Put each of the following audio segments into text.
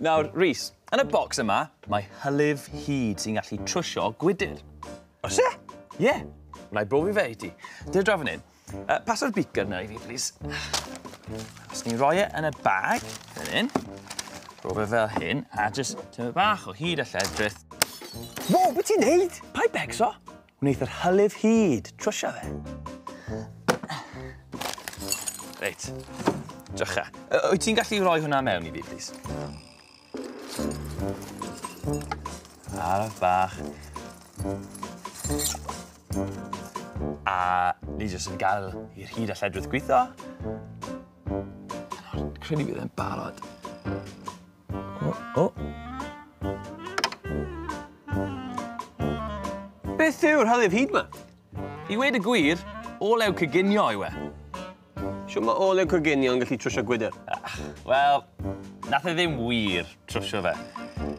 Nawr, Rhys, yn y bocs yma, mae hylif hud sy'n gallu trwsio gwydr. Os e? Ie. Yeah. Wna i brofi fe i ti. Dyna draw fan hyn. Uh, paso'r beaker na i fi, please. Os ni'n rhoi e yn y bag, fan hyn, rhoi fe fel hyn, a jyst tyma bach o hyd a lledrith. Wo, beth ti'n neud? Pai becso. Wneith yr hylif hud trwsio fe. Reit. Drycha. Wyt ti'n gallu rhoi hwnna mewn i fi, plis? Araf bach. A ni jyst yn gael i'r hyd a lledrith gwitho. Credu bydd e'n barod. O, o! Beth yw'r hylif hud 'ma? I weud y gwir, olew coginio yw e. Shwt mae olew coginio yn gallu trwsio gwydr? Wel, nath e ddim wir trwsio fe.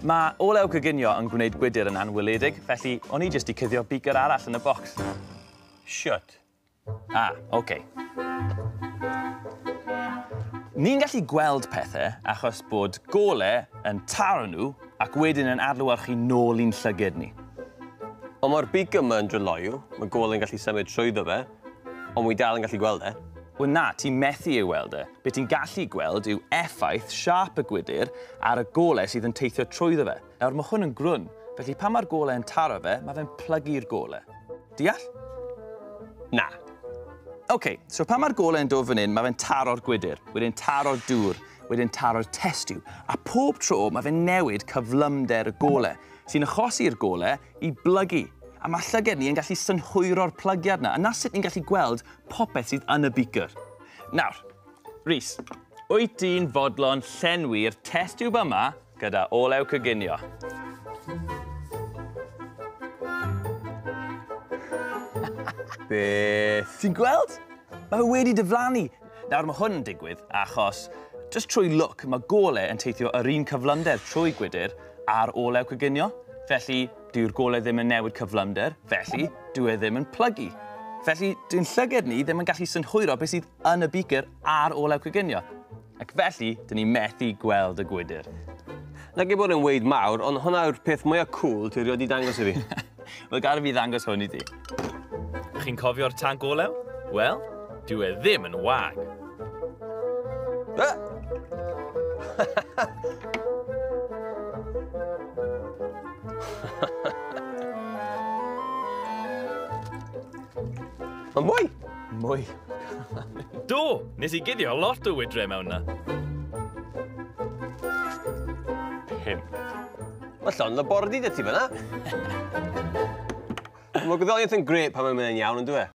Mae olew coginio yn gwneud gwydr yn anweledig, felly o'n i jyst 'di cuddio beaker arall yn y bocs. Shwt? Ah, ok. Ni'n gallu gweld pethau achos bod gole yn taro nhw ac wedyn yn adlewyrchu nôl i'n llyged ni. Ond mae'r beacon yma yn dryloyw, mae gole yn gallu symud trwyddo fe, ond mwy dal yn gallu gweld e. Wel na, ti'n methu ei weld e. Be ti'n gallu gweld yw effaith siâp y gwydr ar y gole sydd yn teithio trwyddo fe. Nawr, mae hwn yn grwn, felly pan mae'r golau yn taro fe, mae fe'n plygu'r golau. Deall? Na. OK, so pan mae'r golau yn dod fan hyn, mae fe'n taro'r gwydr, wedyn taro'r dŵr, wedyn taro'r testiw, a pob tro mae fe'n newid cyflymder y golau, sy'n achosi'r golau i blygu. A mae llyged ni yn gallu synhwyro'r plygiad yna, a na sut ni'n gallu gweld popeth sydd yn y beaker. Nawr, Rhys, wyt ti'n fodlon llenwi'r test tube yma Gyda olew coginio. Beth? Ti'n gweld? Mae fe wedi dyflannu. Nawr mae hwn yn digwydd achos just trwy look mae gole yn teithio yr un cyflymder trwy gwydr a'r olew coginio. Felly, dyw'r gole ddim yn newid cyflymder, felly, dyw e ddim yn plygu. Felly, dwi'n llyged ni ddim yn gallu synhwyro beth sydd yn y beaker a'r olew coginio. Ac felly, dyn ni methu gweld y gwydr. Na gei bod yn weid mawr, ond hwnna yw'r peth mwyaf cŵl ti rioed i dangos i fi. Wel, gada fi ddangos hwn i ti. Chi'n cofio'r tanc olew? Wel, dyw e ddim yn wag. Uh! Mae'n mwy! Mwy. Do! Nes i guddio lot o wydre mewn na. Pum. Mae llon labordy dy ti fyna. Mae gwyddoniaeth yn gret pan mae'n mynd yn iawn, yn dwi e?